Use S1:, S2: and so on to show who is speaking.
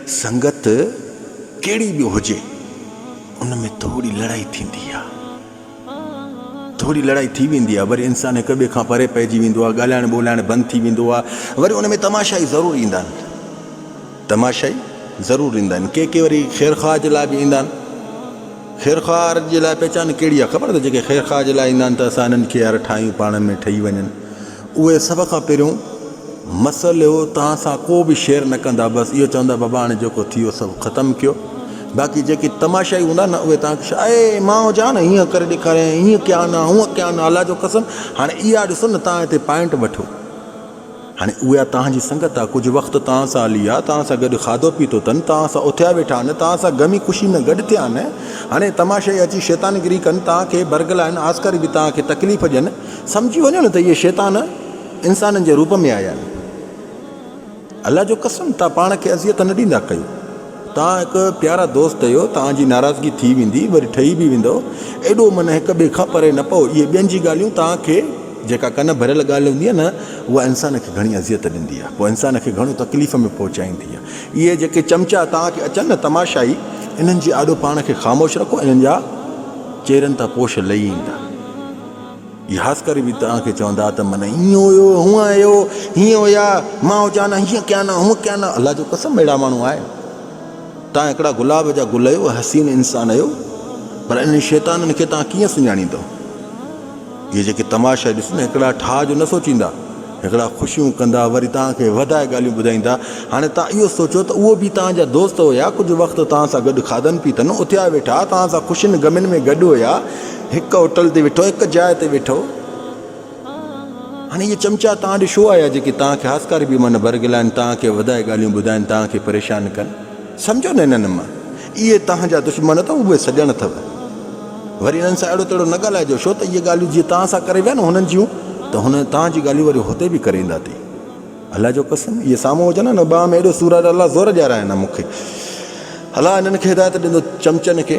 S1: سنگت ڪهڙي به هجي ان ۾ ٿوري لڙائي ٿيندي آ ٿوري لڙائي ٿي ويندي آ وري انسان هڪ ٻئي کان پري پئجي ويندو آ ڳالهائڻ ٻولهائڻ بند ٿي ويندو آ وري ان ۾ تماشائي ضرور ايندا آهن تماشائي ضرور ايندا آهن ڪي ڪي وري خير خواهه جي لاء به ايندا آهن خير خواهه جي لاء پهچان ڪهڙي آ خبر اٿئي جيڪي خير خواهه جي لاء ايندا آهن ته اسان هنن کي يار ٺاهيون پاڻ ۾ ٺهي وڃن اهي سڀ کان پهريون مسئلو توهان سان ڪو به شيئر نه ڪندا بس اهو چوندا بابا هاڻي جيڪو ٿي ويو سڀ ختم ڪيو باقي جيڪي تماشائي هوندا نه اهي توهان کي شاء اي ماء جا نه هيئن ڪري ڏيکاريائين هيئن ڪيا نه هونئن ڪيا نه الله جو قسم هاڻي اها ڏسو نه توهان هتي پوائنٽ وٺو هاڻي اها توهان جي سنگت آ ڪجهه وقت توهان سان هلي آ توهان سان گڏ کاڌو پيتو تن توهان سان اٿيا ويٺا آهن توهان سان غمي خوشي ۾ گڏ ٿيا آهن هاڻي تماشائي اچي شيطانگري ڪن توهان کي برگلائن آسڪاري به توهان کي تڪليف ڏين سمجهي وڃو نه ته اهي شيطان انسانن جي روپ ۾ آيا آهن. الله جو قسم توهان پاڻ کي اذيت نه ڏيندا ڪيو. توهان هڪ پيارا دوست اهيو توهان جي ناراضگي ٿي ويندي وري ٺهي به ويندؤ ايڏو من هڪ ٻئي کان پري نه پئو اهي ٻين جي ڳالهيون توهان کي جيڪا ڪن ڀريل ڳالهه هوندي آهي نه اها انسان کي گهڻي اذيت ڏيندي آهي پوء انسان کي گهڻو تڪليف ۾ پهچائيندي آهي اهي جيڪي چمچا توهان کي اچن نه تماشائي انهن جي آڏو پاڻ کي خاموش رکو انهن جا چهرن تان پوش لهي ايندا. يحاسڪري به توهان کي چوندا ته من ائين هيو، هونء هيو، هيئن هيا، مان هجان ها هيئن ڪيان ها، هونء ڪيان ها، الله جو قسم اهڙا ماڻهو آهن. توهان هڪڙا گلاب جا گل هيو، حسين انسان هيو، پر انهن شيطانن کي توهان ڪيئن سڃاڻيندؤ. اهي جيڪي تماشا ڏسن هڪڙا ٺاهه جو نه سوچيندا. هڪڙا خوشيون ڪندا وري توهان کي وڌائي ڳالهيون ٻڌائيندا. هاڻي توهان اهو سوچيو ته اهو به توهان جا دوست هيا، ڪجهه وقت توهان سان گڏ کاڌن پيتن، اٿيا ويٺا، توهان سان خوشين غمين ۾ گڏ هيا، هڪ هوٽل تي ويٺو، هڪ جاء تي ويٺو. هاڻي اهي چمچا توهان ڏي ڇو آيا جيڪي توهان کي هاسڪاري بي معنيٰ برغلائين، توهان کي وڌائي ڳالهيون ٻڌائين، توهان کي پريشان ڪن. سمجهو نه انهن مان اهي توهان جا دشمن اٿو، اهي سڄڻ اٿو. وري انهن سان اهڙو تهڙو نه ڳالهائجو، ڇو ته اهي ڳالهيون جيئن توهان سان ڪري ويا نه هنن جيون، ته هن توهان جون ڳالهيون وري هتي به ڪري ايندا تي الله جو قسم اهي سامهون هجن ها نه ٻانهن ۾ اهڙو سور آهي ته الله زور ڏيارائين ها مون کي الله انهن کي هدايت ڏيندو چمچن کي.